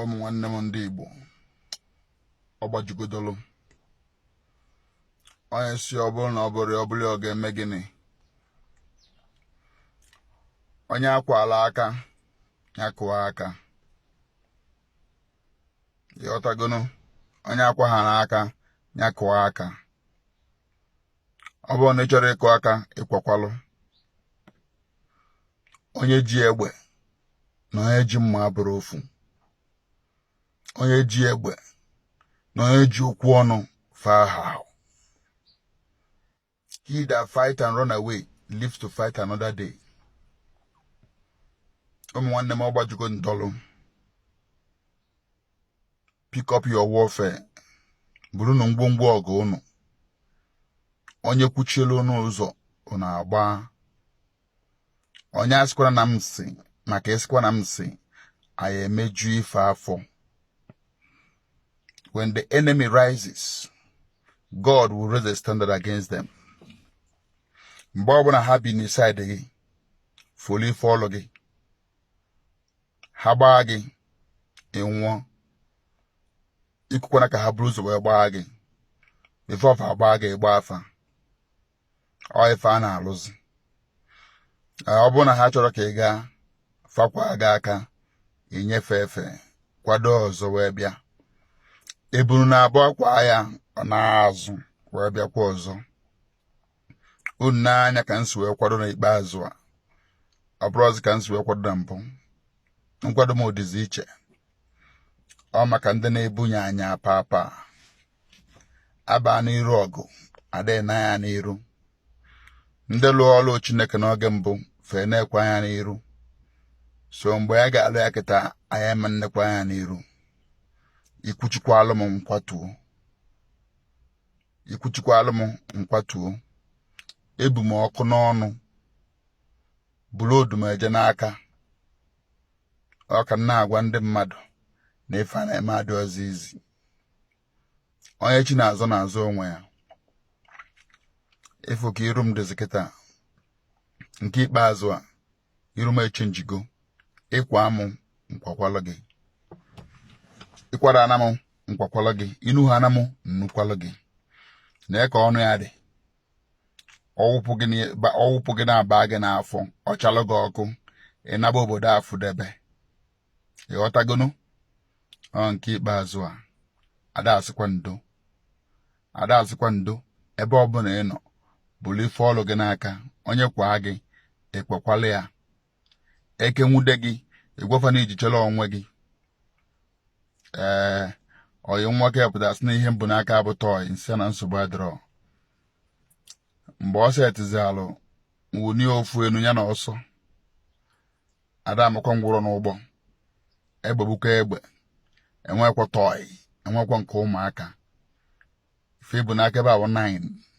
ụmụ nwanne m ndị Igbo ọ gbajugodolu onye si ọ bụrụ na ọ bụrụ ọ bụrụ ọ ga-eme gịnị onye a kwalụ aka ya kụọ aka ị ghọtagonu onye a kwaghara aka ya kụọ aka ọ bụrụ na ị chọrọ ịkụ aka ị kwakwalụ onye ji egbe na onye ji mma abụrọ ofu onye ji egbe na onye ji okwu ọnụ fa ahahọ he that fight and run away lives to fight another day ụmụ nwanne m ọ gbajugo dolu pick up your warfare burunu ngwongwo ọgụ ụnụ onye kwuchielu ụnụ ụzọ ụnụ agbaa onye asịkwana na m sị maka ị sịkwa na m sị anyị emeju ife afọ when the enemy rises God will raise a standard against them mgbe ọbụla ha bi na side gị fọlụ ife ọlụ gị ha gbaa gị ị nwụọ ekwekwana ka ha buru ụzọ wee gbaa gị before fa agbaa gị ị gbaa fa ọ ife a na-alụzi ọ bụrụ na ha chọrọ ka ị gaa fa kwaa gị aka i nye fa efe kwado ọzọ wee bịa ebunu na-abụ a kwaa ya ọ naa azụ wee bịakwa ọzọ unu nee anya ka m si wee kwado n'ikpeazụ a ọ bụrọzi ka m si wee kwado na mbụ nkwado m dịzi iche ọ maka ndị na-ebunye anya papa a baa n'iru ọgụ adịghị ene anya n'iru ndị lụọ ọlụ chineke n'oge mbụ fa enekwa anya n'iru so mgbe anyị ga-alụ ya kịta anyị ama nekwa anya n'iru i kwuchikwalụ m m kwatuo i kwuchikwalụ m m kwatuo ebu m ọkụ n'ọnụ buru odumeje n'aka ọ ka m na-agwa ndị mmadụ na ife a na-eme adịrọzi easy onye chi na-azọ na-azọ onwe ya ị fụ ka iru m dịzi kịta nke ikpeazụ a iru m echenjigo ị kwaa m m kwakwalụ gị ị kwara ana m nkwakwalụ gị inu ha ana m nnukwalụ gị na ka ọnụ ya dị ọwụpụ gị na-aba gị n'afọ ọ chalụ gị ọkụ ị naba obodo afụdebe ịghọtagonu ọ nke ikpeazụ a ada asịkwa ndo ada asịkwa ndo ebe ọbụla ị nọ bulu ife ọlụ gị n'aka onye kwaa gị ekwekwala ya eke nwude gị ị gwa fa na i ji chere onwe gị ee ọyị nwoke pụta sị na ihe m bu n'aka bụ toy m sị na nsogbu adịrọ mgbe ọ setizi arụ m wunye ya ofu enu ya na ọsọ ada amakwa ngwụrọ n'ụgbọ egbe bụkwa egbe enwekwa toy enwekwa nke ụmụaka ife a bu n'aka ebe a wụ 9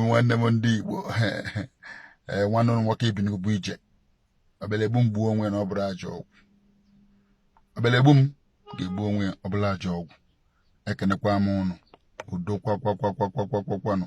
nwanne m ndị Igbo eh, nwanne unu nwoke ibi n'ugwu ije ọbịalụ egbu m gbuo onwe na ọ bụrọ ajọ ọgwụ ọbịalụ egbu m ga-egbu onwe ya ọ bụrọ ajọ ọgwụ ekenekwa m ụnụ udo kwakwanụ